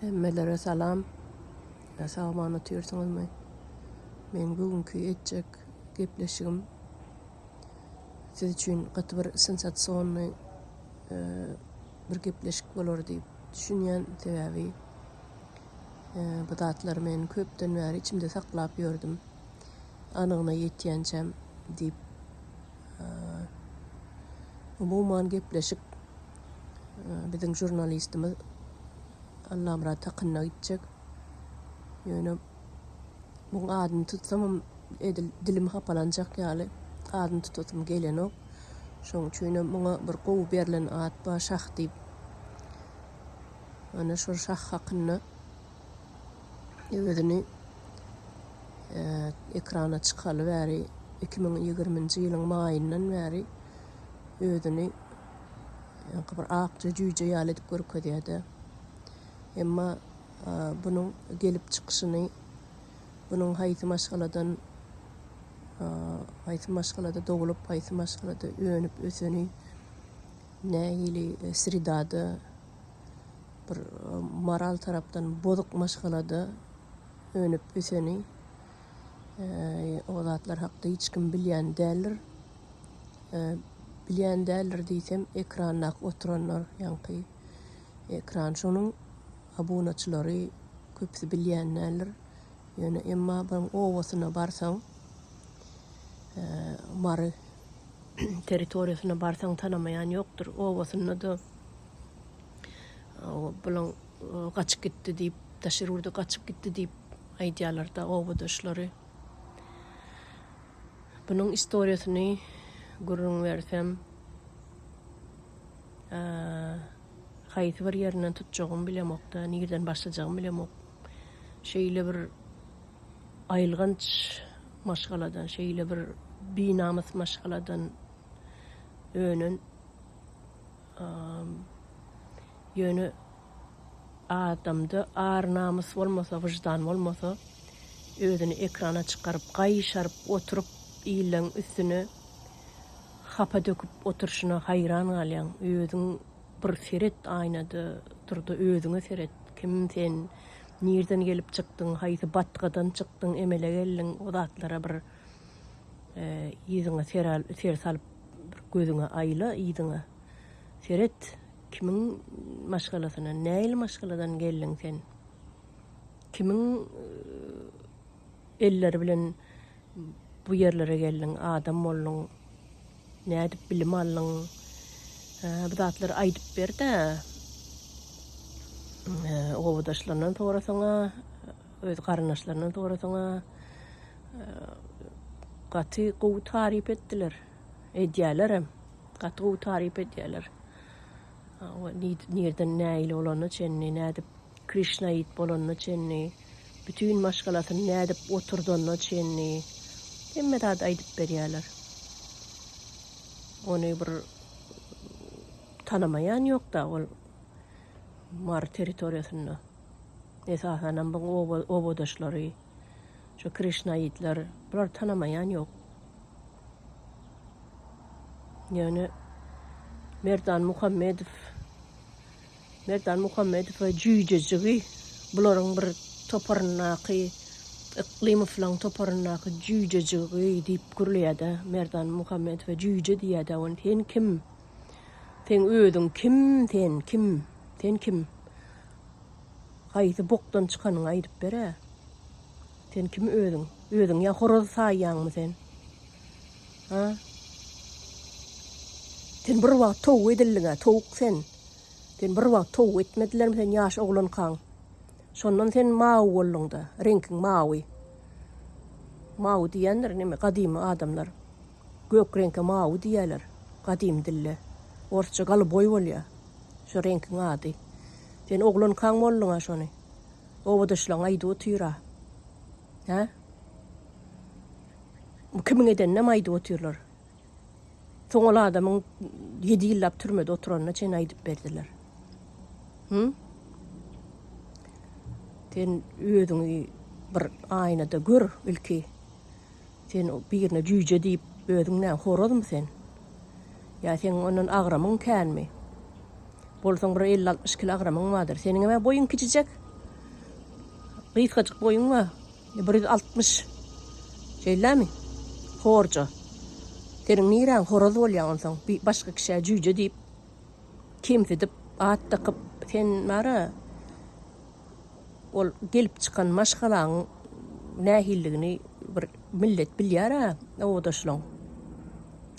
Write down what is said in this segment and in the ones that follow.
Hemmelere salam. Ýa sagaman otyrsyňyzmy? Men bugünkü etjek gepleşigim siz üçin gaty bir sensasionny bir gepleşik bolar diýip düşünýän sebäbi bu zatlary men köpden bäri içimde saklap ýördüm. anygyna ýetýänçäm diýip umuman gepleşik biziň žurnalistimiz Allamyrat hakynda gitjek. Ýöne bu adyny tutsamam edil dilim hapalanjak ýaly adyny tutasym gelenok. Şoň üçin hem muňa bir gowy berlen at bar şah diýip. Ana şol şah hakynda özüni ekrana çykaly bäri 2020-nji ýylyň maýyndan bäri özüni ýaňky bir akja jüýje ýaly edip görkezýär-de. Emma bunuň gelip çykyşyny, bunuň haýsy maşgaladan, haýsy maşgalada doglup, haýsy maşgalada önüp-öseni, nähili sredada Bir moral tarapdan bozuk maşgalada önüp öseni o zatlar hakda hiç kim bilýän däldir. Bilýän däldir diýsem, ekranda oturanlar, ýaňky ekran şonuň abunaçylary köpüsi bilýän däldir. Ýöne emma bir owasyna barsaň, Mary territoriýasyna barsaň tanamaýan ýokdur. Owasynda da Bulan gaçyp gitdi diýip, daşary ýurda gaçyp gitdi diýip aýdýarlar-da obadaşlary. Bunuň istoriýasyny gürrüň bersem, haýsy bir ýerinden tutjagymy bilemok-da, nireden başlajagymy bilemok. Şeýle bir aýylganç maşgaladan, şeýle bir binamys maşgaladan önen Ýöne adamda ar-namys bolmasa, wyždan bolmasa, özüni ekrana çykaryp, gaýşaryp oturyp, illeň üstüne hapa döküp oturyşyna haýran galýaň. Özüň bir seret aýnada, tur-da özüňe seret. Kim sen? Nirden gelip çykdyň? Haýsy batgadan çykdyň, emele geldiň? O zatlara bir Yzyňa ser salyp bir gözüňe aýla yzyňa. Seret kimiň maşgalasyna nähili maşgaladan geldiň sen. Kimiň elleri bilen bu ýerlere geldiň adam bolduň. Nädip bilim aldyň. Bu zatlary aýdyp berdä. Obadaşlaryndan sorasaňa. Öz garyndaşlaryndan sorasaň-a, gaty gowy taryp etdiler. Edýälerem. Gaty gowy taryp edýäler. Nireden nähili bolanyna çenli, nädip Krişnaýit bolanyna çenli, bütin maşgalasyny nädip oturdanyna çenli hemme zady aýdyp berýäler. Ony bir tanamaýan ýok-da ol Mary territoriýasynda. Esasanam bu oba obadaşlary, şu krişnaitler bulary tanamaýan ýok. Ýöne Merdan Muhammedow Merdan Muhammedow we jüýjejigi bularyň bir toparyndaky Yklymowlaryň toparyndaky jüýjejigi diýip gürleýär-de, Merdan Muhammedowa jüýje diýýär-de, ony sen kim? Seň özüň kim sen, kim? Sen kim? Haýsy bokdan çykanyňy aýdyp ber-ä. Sen kim özüň? Özüňi ýa horaz saýýaňmy sen? Ha? Sen bir wagt towuk edildiň-ä, towuk sen. Sen bir wagt towuk etmedilermi sen ýaş oglankaň? Şondan sen mawy bolduň-da, reňkiň mawy. Mawy diýendir neme, gadymy adamlar. Gök reňke mawy diýýärler gadymy dilde. Orsça goluboý bolýa şo reňkiň ady. Sen oglankaň bolduňa şony obadaşlaň aýdyp otyra. Hä? Bu kimiň edeninem aýdyp otyrlar. Soň ol adamyň ýedi ýyllap türmede oturanyna çen aýdyp berdiler. Hü? Sen özüňi bir aýnada gör ilki. Sen birine jüýje diýip, özüň näme, horazmy sen? Ýa seň ondan agramyň känmi? Bolsaň bir elli-altmyş kilo agramyň bardyr. Seniňem-ä boýuň kiçijek. Gysgajyk boýuň bar. Bir ýüz altmyş. Şeýlemi? Horja. Seniň niräň horaz bolýa onsoň, başga kişä jüýje diýip, kemsidip, at dakyp, sen bara, Ol gelip çykan maşgalaň nähilligini bir millet bilýär-ä, obadaşlaň,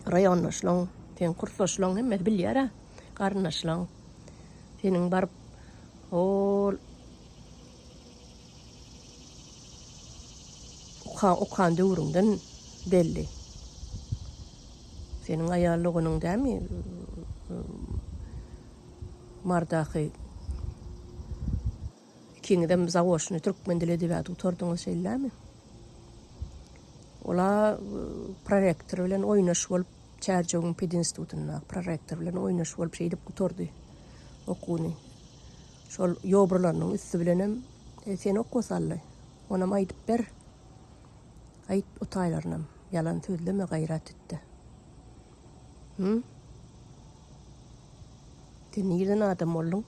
raýondaşlaň, seň kursdaşlaň hemmesi bilýär-ä, garyndaşlaň. Seniň baryp hol okan döwrüňden belli. Seniň aýal doganyň dämi? Mardaky ikiňizem zaoçny türkmen dili edebiýady gutardyňyz şeýlemi? Ola prorektor bilen oýnaş bolup Çärjewiň pedinstitutynda prorektor bilen oýnaş bolup şeýdip gutardy okuny. Şol ýobrularynyň üsti bilenem e, sen okuwa saldy. Onam aýdyp ber. Aýt o taýlarynam. Ýalan sözleme gaýrat etdi. Hum. Sen nirden adam bolduň?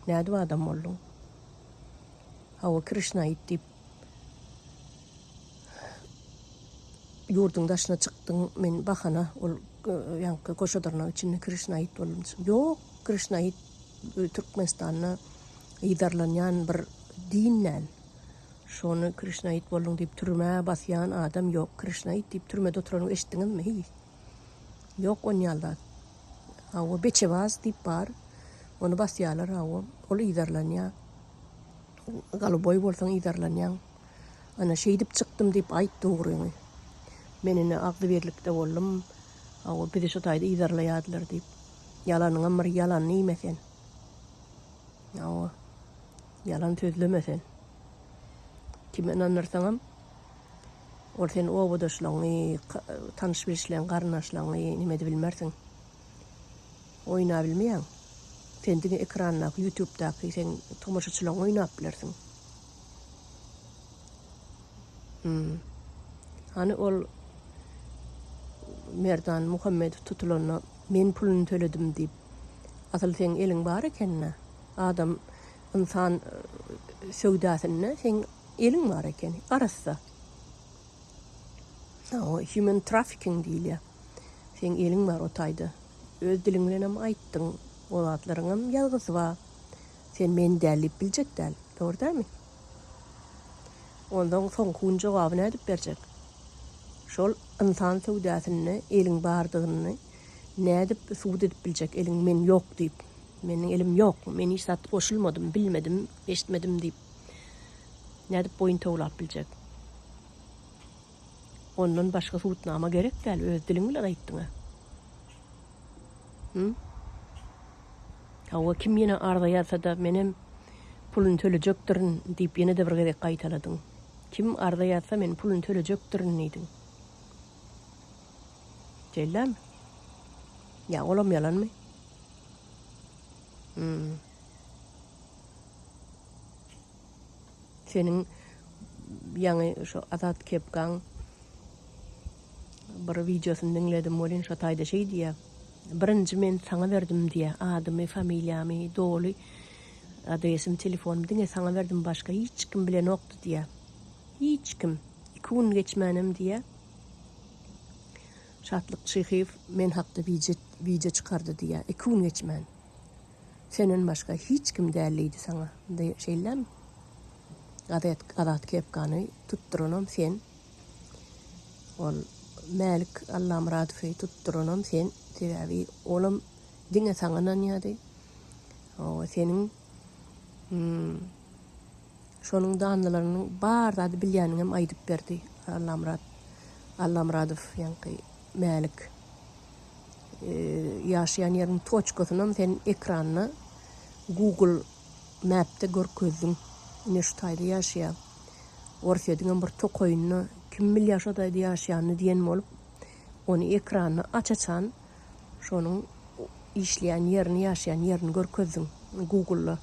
Nädip adam bolduň? Hawa Krişna it diýip ýurduň daşyna çykdyň, men bahana ol ýaňky goşadyrnak içinde Krişna it boldum. Ýok, Krişna it Türkmenistanda yzarlanýan bir din däl. Şony Krişna it bolduň diýip türmä basýan adam ýok. Krişna it diýip türmede oturanyny eşitdiňizmi? Hiý. Ýok on ýal zat. Hawa, beçebaz diýip bar. Ony basýarlar, hawa. Ol yzarlanýar. Goluboý bolsaň yzarlanýaň. Ana, şeýdip çykdym diýip aýt dogryňy. Men indi agzybirlikde boldum. Hawa, bizi şu taýda yzarlaýardylar diýip. Ýalanyňam bir ýalanyny iýme sen. Hawa. Ýalan sözleme sen. Kime ynandyrsaňam. Ol seniň obadaşlaryňy, tanyş-bilişleň, garyndaşlaryňy nimedibilmersiň. Oýnabilmeýäň. Sen diňe ekrandaky, ýutubdaky seň tomaşaçylaryňy oýnap bilersiň. Hum. Hany ol Merdan Muhammedow tutulanda men puluny töledim diýip. Asyl seň eliň bar ekeni. Adam, ynsan söwdasynda seň Eliň bar ekeni, arassa. O human trafficking diýilýär. Seň eliň bar o taýda. Öz diliň bilen hem aýtdyň. O zatlaryň hem ýazgysy bar. Sen men däl diýip biljek däl. Dogry dälmi? Ondan soňky gün jogaby nädip berjek? Şol ynsan söwdasynda eliň bardygyny nädip subut edip biljek? Eliň men ýok diýip. Meniň elim ýok. Men hiç zat goşulmadym, bilmedim, eşitmedim diýip. nädip boýun towlap biljek? Ondan başga subutnama gerek däl, öz diliň bilen aýtdyň-a. Hum? Hawa, kim ýene arza ýazsa-da, menem puluny tölejekdirin diýip ýene-de bir gezek gaýtaladyň. Kim arza ýazsa, men puluny tölejekdirin diýdiň. Şeýlemi? Ýa olam ýalanmy? Hum. Seniň ýaňy şu Azat Kepkaň bir wideosyny diňledim welin şo taýda şeý diýýär. Birinji men saňa berdim diýýär. Adymy, familiýamy, doly adresimi, telefonumy diňe saňa berdim, başga hiç kim bilenokdy diýýär. Hiç kim. Iki gün geçmänem diýýär. Şatlyk Çyhyýew men hakda wideo çykardy diýýär. Iki gün geçmän. Senden başga hiç kim däl diýdi saňa. Şeýlemi? Gazet Azat kepkany tutduranam sen. Ol Mälik Allamyradowy tutduranam sen. Sebäbi olam diňe saňa ynanýardy. Hawa, seniň hmm, şonuň danlarynyň bar zady bilýänini hem aýdyp berdi Allamyrat Allamyradow ýaňky Mälik. Ýaşaýan ýeriň toçkasynam sen ekranda Google Map'de görkezdiň. Ine şu taýda ýaşaýa. Orsýetiňem bir tokaýynda kim bilýä şo taýda ýaşaýanyny diýen bolup, ony ekranda aç-açan şonuň işleýän ýerini, ýaşaýan ýerini görkezdiň Google-da.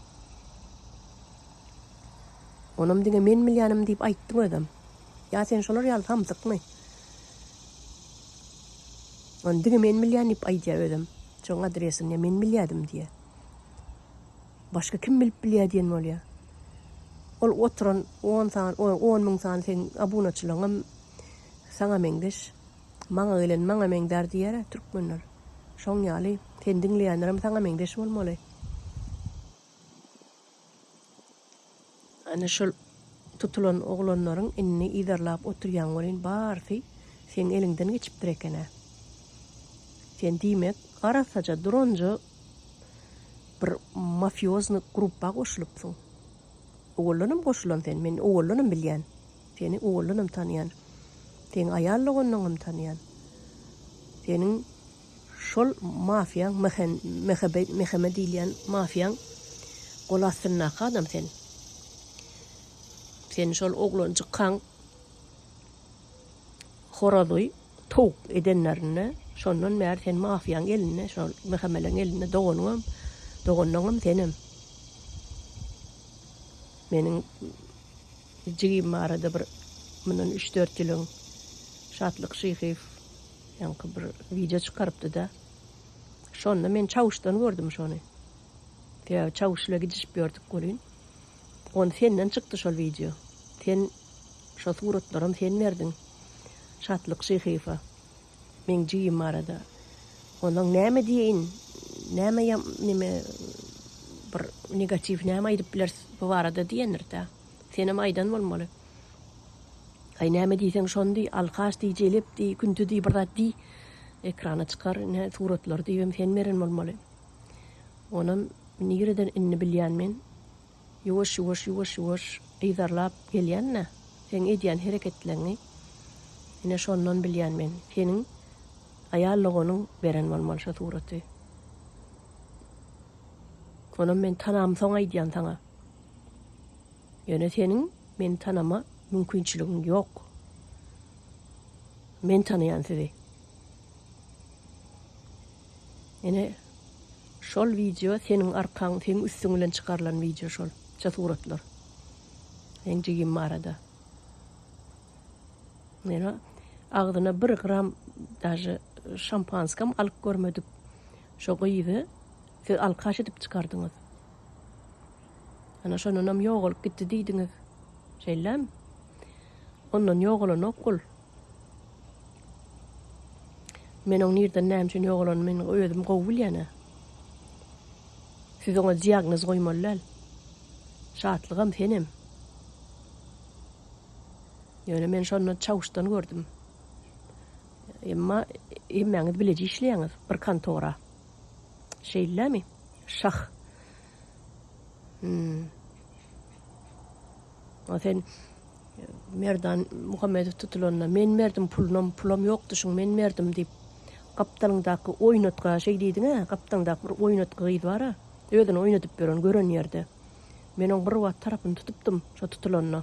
Onam diňe men bilýänim diýip aýtdyň özem. Ýa sen şolar ýaly samsykmy? Ony diňe men bilýän diýip aýdýar özem. Şoň adresini men bilýärdim diýýär. Başga kim bilip bilýär diýen bolýar. Ol oturan on san, on müň sany seň abunaçylygyňam saňa meňzeş. Maňa gelen maňa meňzär diýer-ä türkmenler. Şoň ýaly, seni diňleýänlerem saňa meňzeş bolmaly. Ana şol tutulan oglanlaryň indi yzarlap oturýan welin barysy seň eliňden geçipdir eken-ä. Sen diýmek arassaja duranja bir mafýozny gruppa goşulypsyň. Owaldanam goşulan sen, men owaldanam bilýän. Seni owaldanam tanýan. Seň aýal doganlaňam tanýan. Seniň Şol mafiýaň Mehebe Meheme diýilýän mafiýaň gol astyndaky adam sen. Seni şol oglanjykkaň horazy towuk edenlerinde şondan bäri sen mafiýaň elinde şol Mehemeleň elinde doganyňam doganyňam senem. Meniň jigim barada bir mundan üç-dört ýyl öň Şatlyk Şyhyýew Ýaňky bir wideo çykarypdyda. Şonda men Çawuşdan gördüm şony. Sebäbi Çawuş ile gidişip ýördük welin. Ony senden çykdy şol wideo. Sen şo suratlaram sen berdiň. Şatlyk Şyhyýewa. Meň jigim barada. Onuň näme diýeýin. Näme ýa neme bir negatiw näme aýdyp bileris bu barada diýendirda. Senem aýdan bolmaly. Aý näme diýseň şony diý, alkaş diý, jelep diý, künti diý, bir zat diý. Ekrana çykar, ine suratlary diýibem sen beren bolmaly. Onam nireden indi bilýän men. Ýuwaş, ýuwaş, ýuwaş, ýuwaş yzarlap gelýän-dä seň edýän hereketleňňi. Ine şondan bilýän men. Seniň aýal doganyň beren bolmaly şo suraty. Onam men tanamsoň aýdýan saňa. Ýöne seniň meni tanama mümkinçiligiň ýok. Men tanaýan sizi. Ene şol wideo seniň arkaň, seniň üstüň bilen çykarylan wideo şol. Şu suratlar. Seň jigim barada. Ene agzyna bir gram daže şampanskam alyp görmedik. Şo gyzy siz alkaş edip çykardyňyz. Ana şondanam ýogalyp gitdi diýdiňiz. Şeýlemi? Ondan ýogalanok ol. Men oň nirden näme üçin ýogalanyny men özüm gowy bilýän-ä. Siz oňa diagnoz goýmaly däl. Şatlygam senem. Ýöne men şonda çawuşdan gördüm. Emma hemmäňiz bileje işleýäňiz bir kontora. Şeýlemi? Şah. Hmm. O sen Merdan Muhammedow tutulanda men berdim pulunam, pulam ýokdy şuň men berdim diýip. Gapdalyňdaky oýnatga şeý diýdiňä, gapdaňdaky bir oýnatga gyz bar-a, özüni oýnadyp ýören gören ýerde. Men oň bir wagt tarapyny tutupdym, şo tutulanda.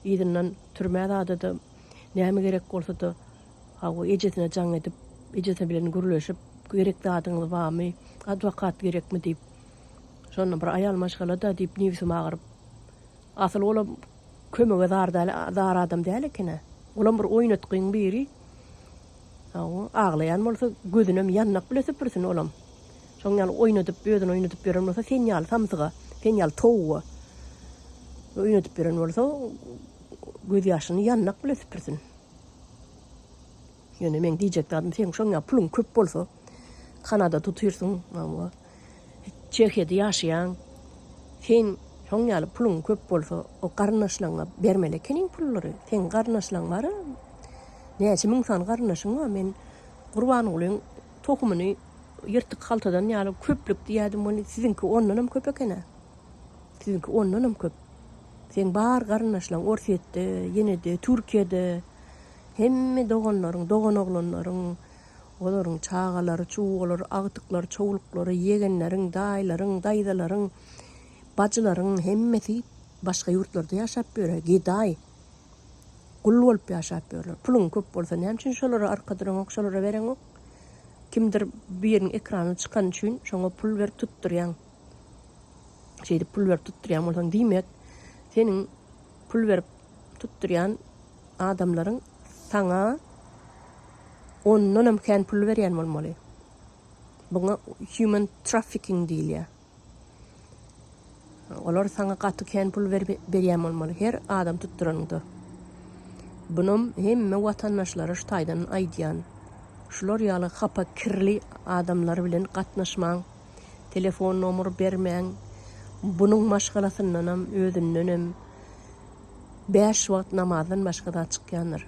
Yzyndan türmä zadada näme gerek bolsa-da, Hawa, ejesine jaň edip, ejesi bilen gürleşip, Gerek zadyňyz barmy? Adwokat gerekmi? diýip, şonda bir aýal maşgala-da diýip, nebsim agyryp. Asyl olam kömege zar däl, zar adam däl eken-ä. Olam bir oýnatgyň biri. Hawa, aglaýan bolsa, gözünem ýandak bile süpürsin olam. Şoň ýaly oýnadyp, özüni oýnadyp ýören bolsa, sen ýaly samsyga, sen ýaly towuga oýnadyp ýören bolsa, gözýaşyny ýandak bile süpürsin. Ýöne meň diýjek zadym seň şoň ýaly puluň köp bolsa Kanada tutyrsyň maňa Çehiýada ýaşaýaň sen şoň ýaly puluň köp bolsa o garyndaşlaryňa bermeli ekeniň pullary seň garyndaşlaryň bar näçe müň sany garyndaşyň bar men Gurbangulyň tohumyny ýyrtyk haltadan ýaly köplük diýýädim ony siziňki ondanam köp ekena. Siziňki ondanam köp. Seň bar garyndaşlaň Orsýetde, ýene-de Türkiýede. Hemme doganlaryň, doganoglanlaryň, olaryň çagalary, çuwgalary, agtyklary, çowluklary, ýegenleriň, daýylaryň, daýzalaryň, bajylaryň hemmesi başga ýurtlarda ýaşap ýöre, gedaý, gul bolup ýaşap ýörler. Puluň köp bolsa näme üçin şolara arka duraňok, şolara bereňok? Kimdir biriniň ekranyna çykany üçin şoňa pul berip tutdurýaň. şeýdip pul berip tutdurýan bolsaň diýmek seniň pul berip tutdurýan adamlaryň saňa ondanam kän pul berýän bolmaly. Buňa human trafficking diýilýär. Olar saňa gaty kän pul berýän bolmaly her adam tutduranyňda. Bunam hemme watandaşlara şu taýdan aýdýan. Şular ýaly hapa kirli adamlar bilen gatnaşmaň. Telefon nomer bermäň. Bunuň maşgalasyndanam, özündenem bäş wagt namazdan başga zat çykýandyr.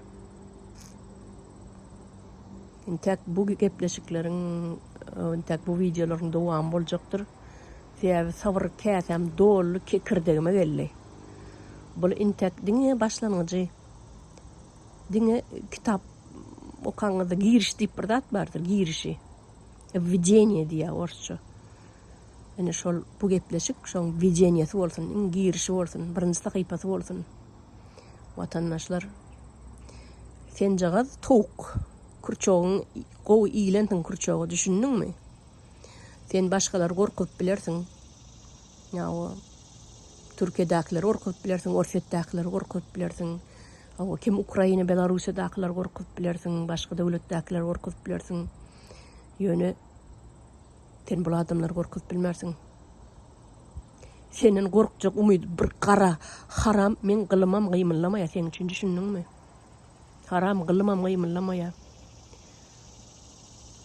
Intäk bu gepleşikleriň, intäk bu wideolaryň dowamy boljakdyr. Sebäbi sabyr käsäm doldy, kekirdegime geldi. Bul intäk diňe başlangyjy. Diňe kitap okaňyzda giriş diýip bir zat bardyr, girişi. Wwideniýe diýýär orsça. Ine şol bu gepleşik şoň wwideniýesi bolsun, iň girişi bolsun, birinji sahypasy bolsun. Watandaşlar Senjagaz towuk. Kurçogyň gowy iýlensiň kurçoga düşündiňmi? Sen başgalary gorkuzyp bilersiň. Ýa o Türkiýedäkileri gorkuzyp bilersiň, Orsýetdäkileri gorkuzyp bilersiň. Hawa kim Ukraina Belarusiýadakylar gorkuzyp bilersiň başga döwletdäkiler gorkuzyp bilersiň ýöne sen bul adamlar gorkuzyp bilmersiň senden gorkjak umyt bir gara haram men gylymam gymyllamaýa seň üçin düşündiňmi haram gylymam gymyllamaýa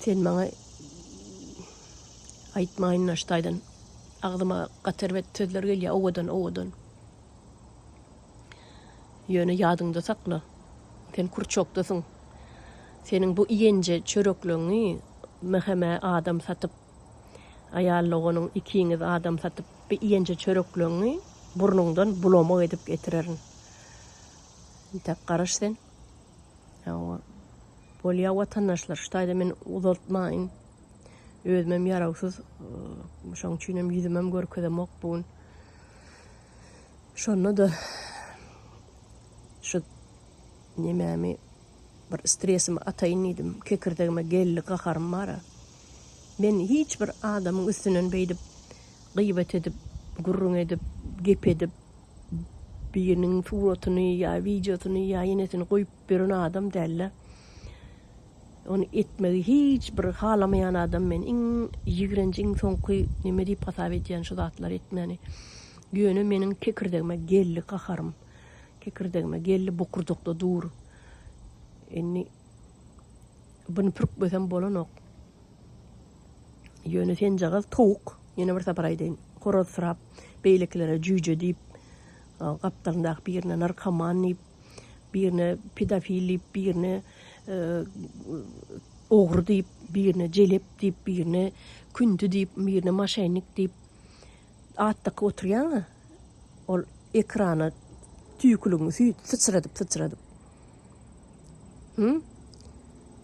sen maňa aýtmaýyn naştaýdan agzyma gaterbet sözler gelýä owadan owadan Ýöne ýadyňda sakla, sen kurçokdasyň. Seniň bu iýenje çörekleňňi Mhme adam satyp, aýal doganyň ikiňiz adam satyp, bi iýenje çörekleňňi burnuňdan bulamak edip getirerin. Intäk garaş sen. Hawa. Bolýa watandaşlar, şu taýda men uzaltmaýyn. Özümem ýarawsyz, şoň üçinem ýüzümem görkezemok bu gün. Şonda da şu nemämi bir stresimi ataýyn diýdim. Kekirdegime geldi gaharym bara. Men hiç bir adamyň üstünden beýdip gyýbat edip, gürrüň edip, gep edip biriniň suratyny ýa wideosyny ýa inesini goýup beren adam däldi. Ony etmegi hiç bir halamaýan adam men iň ýigrenji iň soňky neme diýip hasap edýän şu zatlary etmäni. Ýöne meniň kekirdegime geldi gaharym. Kekirdegime geldi bokurjakda dur. Indi buny pürkmesem bolanok. Ýöne senjagaz towuk ýene bir sapar aýdaýyn horazsyrap beýlekilere jüýje diýip gapdalyndaky birine narkoman diýip birine pedofil diýip birine ogry diýip, birine jelep diýip, birine kündi diýip, birine maşennik diýip at dakyp oturýaň-a, ol ekrana tüýküligiňi syçradyp-syçradyp. Hü?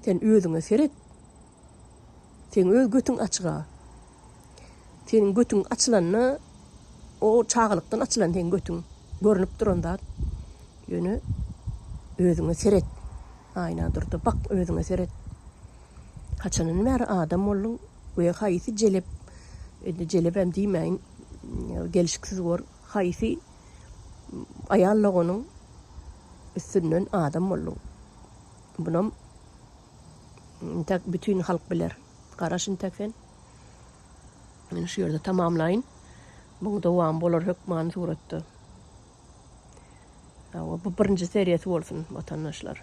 Sen özüňe seret. Seň öz götüň açyga. Seniň götüň açylanda o çagalykdan açylan seň götüň. Görnüp duran zat. Ýöne özüňe seret. Aýna durda bak özüňe seret. Haçandan bäri adam bolduň we haýsy jelep indi jelebem diýmäýin gelşiksiz bor haýsy aýal logonyň üstünden adam bolduň. Bunam Intäk bütin halk biler. Garaş intäk sen. Meni şu ýerde tamamlaýyn. Muň dowamy bolar hökmany suratda. Hawa, bu birinji seriýasy bolsun, watandaşlar.